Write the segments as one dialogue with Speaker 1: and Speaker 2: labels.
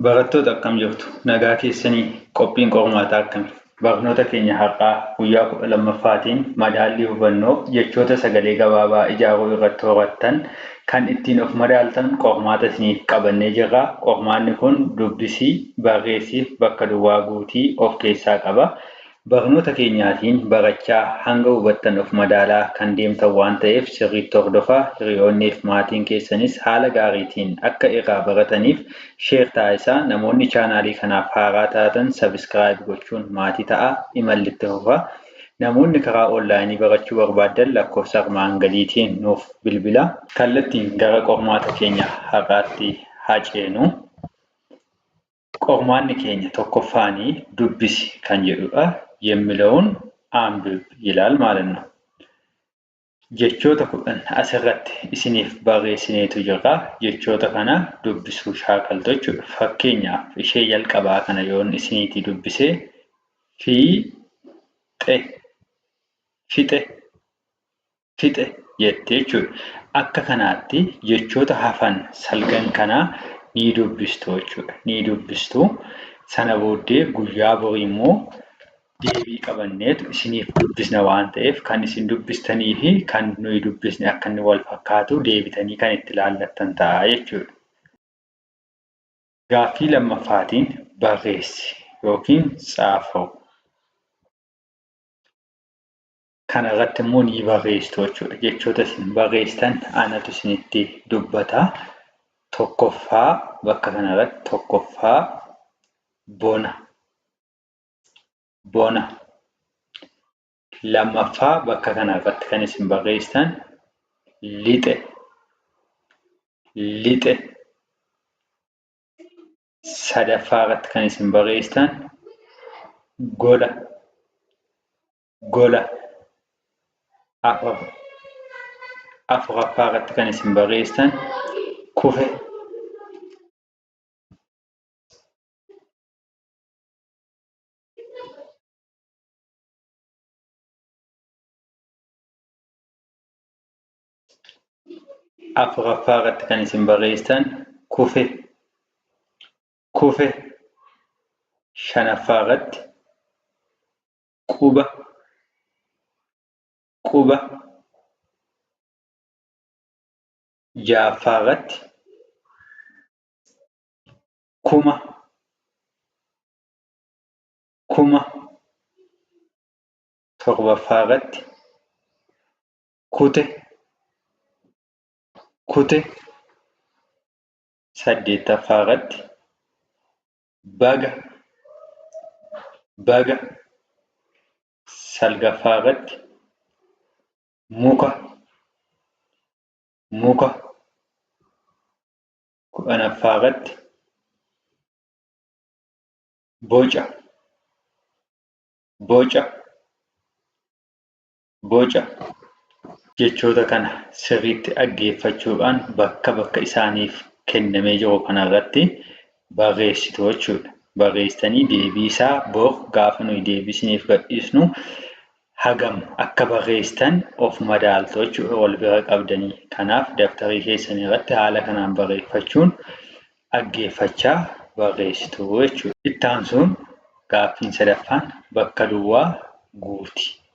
Speaker 1: Barattoota akkam jirtu? Nagaa keessanii? Qophiin qormaataa akkami? Barnoota keenya har'aa guyyaa 12ffaatiin madaallii hubannoo jechoota sagalee gabaabaa ijaaruu irratti horattan kan ittiin of madaaltan qormaata isiniif qabannee jirra. Qormaanni kun dubbisii, barreessiif bakka duwwaa guutii of keessaa qaba. Barnoota keenyaatiin barachaa, hanga hubattan of madaalaa kan deemtan waan ta'eef sirriitti hordofaa, hiriyoonniif maatiin keessanis haala gaariitiin akka irraa barataniif share taasisaa, namoonni chaanaalii kanaaf haaraa taatan subscribe gochuun maatii ta'aa, imalli itti fufa. Namoonni karaa online barachuu barbaaddan lakkoofsa armaan gadiitiin nuuf bilbilaa. Kallattiin gara qormaata keenya har'aatti haa ceenu. Qormaanni keenya tokkoffaani dubbisi kan jedhudha. Yemmileun anbib yilal ማለት ነው. Jechoota kudhan asirratti isiniif barreessineetu jirra. Jechoota kana dubbisuu shaakaltu jechuudha. Fakkeenyaaf ishee jalqabaa kana yoon isiniitii dubbise fi xe fixe fixe jette jechuudha. Akka kanaatti jechoota hafan salgan kana ni dubbistu jechuudha. Ni dubbistu. Sana booddee guyyaa borii immoo deebii qabanneetu isiniif dubbisna waan ta'eef kan isin dubbistanii fi kan nuyi dubbisne akka inni wal fakkaatu deebitanii kan itti laallattan ta'a jechuudha. Gaaffii lammaffaatiin barreessi yookiin tsaafau. Kana irratti immoo ni barreessitu jechuudha. Jechoota isin barreessitan anatu isinitti dubbata. Tokkoffaa bakka kana irratti tokkoffaa bona. Bona. Lammaffaa bakka kana irratti kan isin barreessitan lixe. Lixe. Sadaffaa irratti kan isin barreessitan gola. gola afur afuraffaa irratti kan isin barreessan kufe afuraffaa irratti kan isin barreessan kufe kufe shanaffaa irratti quba quba ja'affaa irratti kuma kuma torbaffaa irratti kute kute saddeettaffaa irratti baga baga salgaffaa irratti muka muka kudhanaffaa irratti boca boca Boca jechoota kana sirriitti dhaggeeffachuudhaan bakka bakka isaaniif kennamee jiru kanarratti barreessitu jechuudha. Barreessitanii deebiisaa bor gaafa nuyi deebii isiniif gadhiisnu hagam akka barreessitan of madaaltu jechuudha wal bira qabdanii. Kanaaf dabtarii keessan irratti haala kanaan barreeffachuun dhaggeeffachaa barreessitu jechuudha. Itti aansuun gaaffiin sadaffaan bakka duwwaa guuti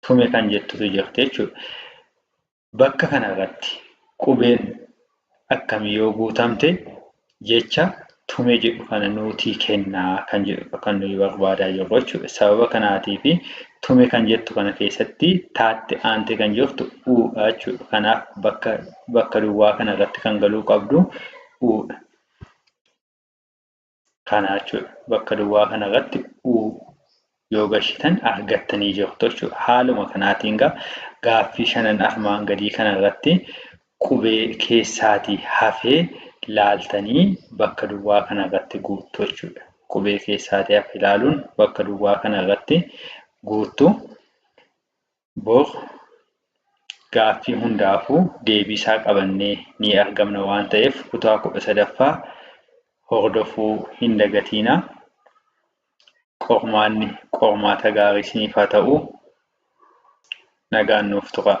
Speaker 1: tume kan jettutu jirti jechuudha. Bakka kanarratti qubeen akkamii yoo guutamte jecha tume jedhu kana nuutii kennaa kan jedhudha kan nuyi barbaadaa jirru jechuudha. Sababa kanaatii fi tume kan jettu kana keessatti taatti aantee kan jirtu uudha jechuudha. Kanaaf bakka, bakka duwwaa kanarratti kan galuu qabdu uudha. Kana jechuudha. Bakka duwwaa kana irratti u yoo gashitan argattanii jirtu jechuudha. Haaluma kanaatiin gaa gaaffii shanan armaan gadii kana irratti qubee keessaatii hafee laaltanii bakka duwwaa kana irratti guuttu jechuudha. Qubee keessaatii hafe ilaaluun bakka duwwaa kana irratti guuttu. Bor gaaffii hundaafuu deebii isaa qabannee ni argamna waan ta'eef kutaa kudha sadaffaa hordofuu hin dagatiina. Qormaanni qormaata gaarii isiniif haa ta'u. Nagaan nuuf turaa.